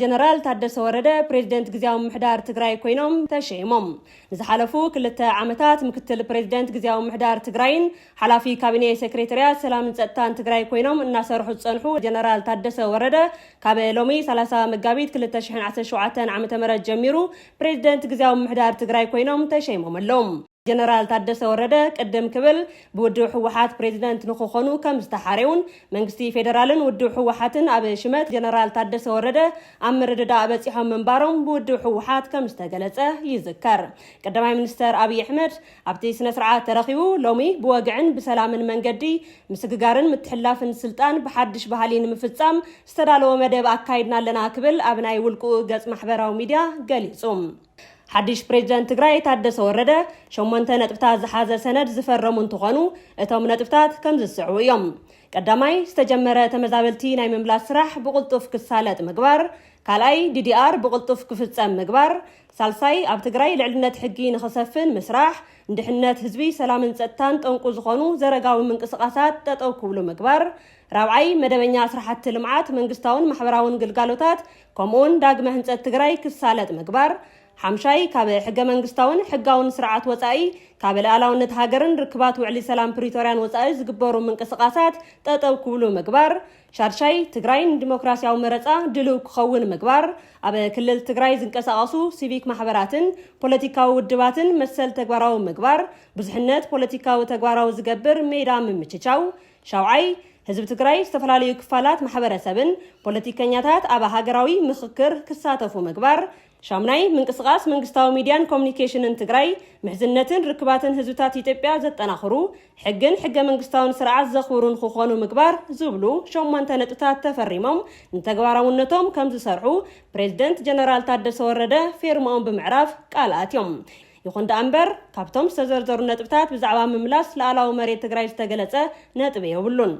ጀነራል ታደሰ ወረደ ፕሬዚደንት ግዜያዊ ምሕዳር ትግራይ ኮይኖም ተሸይሞም። ንዝሓለፉ ክልተ ዓመታት ምክትል ፕሬዚደንት ግዜያዊ ምሕዳር ትግራይን ሓላፊ ካቢኔ ሴክሬታርያት ሰላምን ጸጥታን ትግራይ ኮይኖም እናሰርሑ ዝጸንሑ ጀነራል ታደሰ ወረደ ካብ ሎሚ 30 መጋቢት 2017 ዓ.ም ጀሚሩ ፕሬዚደንት ግዜያዊ ምሕዳር ትግራይ ኮይኖም ተሸይሞም ኣለዉ። ጀነራል ታደሰ ወረደ ቅድም ክብል ብውድብ ህወሓት ፕሬዚደንት ንክኾኑ ከም ዝተሓረዩን መንግስቲ ፌዴራልን ውድብ ህወሓትን ኣብ ሽመት ጀነራል ታደሰ ወረደ ኣብ ምርድዳእ በፂሖም ምንባሮም ብውድብ ህወሓት ከም ዝተገለፀ ይዝከር። ቀዳማይ ሚኒስተር ኣብይ ኣሕመድ ኣብቲ ስነ ስርዓት ተረኺቡ ሎሚ ብወግዕን ብሰላምን መንገዲ ምስግጋርን ምትሕላፍን ስልጣን ብሓድሽ ባህሊ ንምፍፃም ዝተዳለወ መደብ ኣካይድና ኣለና ክብል ኣብ ናይ ውልቁ ገፅ ማሕበራዊ ሚዲያ ገሊፁ። ሓድሽ ፕሬዚደንት ትግራይ ታደሰ ወረደ ሸሞንተ ነጥብታት ዝሓዘ ሰነድ ዝፈረሙ እንትኾኑ እቶም ነጥብታት ከምዚ ዝስዕቡ እዮም። ቀዳማይ ዝተጀመረ ተመዛበልቲ ናይ ምምላስ ስራሕ ብቕልጡፍ ክሳለጥ ምግባር፣ ካልኣይ ዲዲኣር ብቕልጡፍ ክፍፀም ምግባር፣ ሳልሳይ ኣብ ትግራይ ልዕልነት ሕጊ ንኽሰፍን ምስራሕ፣ ንድሕነት ህዝቢ ሰላምን ፀጥታን ጠንቁ ዝኾኑ ዘረጋዊ ምንቅስቓሳት ጠጠው ክብሉ ምግባር፣ ራብዓይ መደበኛ ስራሕቲ ልምዓት መንግስታውን ማሕበራውን ግልጋሎታት ከምኡውን ዳግመ ህንፀት ትግራይ ክሳለጥ ምግባር፣ ሓምሻይ ካብ ሕገ መንግስታውን ሕጋውን ስርዓት ወፃኢ ካብ ልኣላውነት ሃገርን ርክባት ውዕሊ ሰላም ፕሪቶርያን ወፃኢ ዝግበሩ ምንቅስቓሳት ጠጠው ክብሉ ምግባር፣ ሻድሻይ ትግራይ ንዲሞክራሲያዊ መረፃ ድልው ክኸውን ምግባር፣ ኣብ ክልል ትግራይ ዝንቀሳቐሱ ሲቪክ ማሕበራትን ፖለቲካዊ ውድባትን መሰል ተግባራዊ ምግባር፣ ብዙሕነት ፖለቲካዊ ተግባራዊ ዝገብር ሜዳ ምምችቻው፣ ሻውዓይ፣ ህዝቢ ትግራይ፣ ዝተፈላለዩ ክፋላት ማሕበረሰብን ፖለቲከኛታት ኣብ ሃገራዊ ምኽክር ክሳተፉ ምግባር። ሻምናይ፣ ምንቅስቓስ መንግስታዊ ሚድያን ኮሙኒኬሽንን ትግራይ ምሕዝነትን ርክባትን ህዝብታት ኢትዮጵያ ዘጠናኽሩ፣ ሕግን ሕገ መንግስታውን ስርዓት ዘኽብሩን ክኾኑ ምግባር ዝብሉ ሸሞንተ ነጥብታት ተፈሪሞም ንተግባራውነቶም ከምዝሰርሑ ፕሬዝደንት ጀነራል ታደሰ ወረደ ፌርምኦም ብምዕራፍ ቃል ኣትዮም። ይኹን ደኣ እምበር ካብቶም ዝተዘርዘሩ ነጥብታት ብዛዕባ ምምላስ ልኣላዊ መሬት ትግራይ ዝተገለፀ ነጥቢ የብሉን።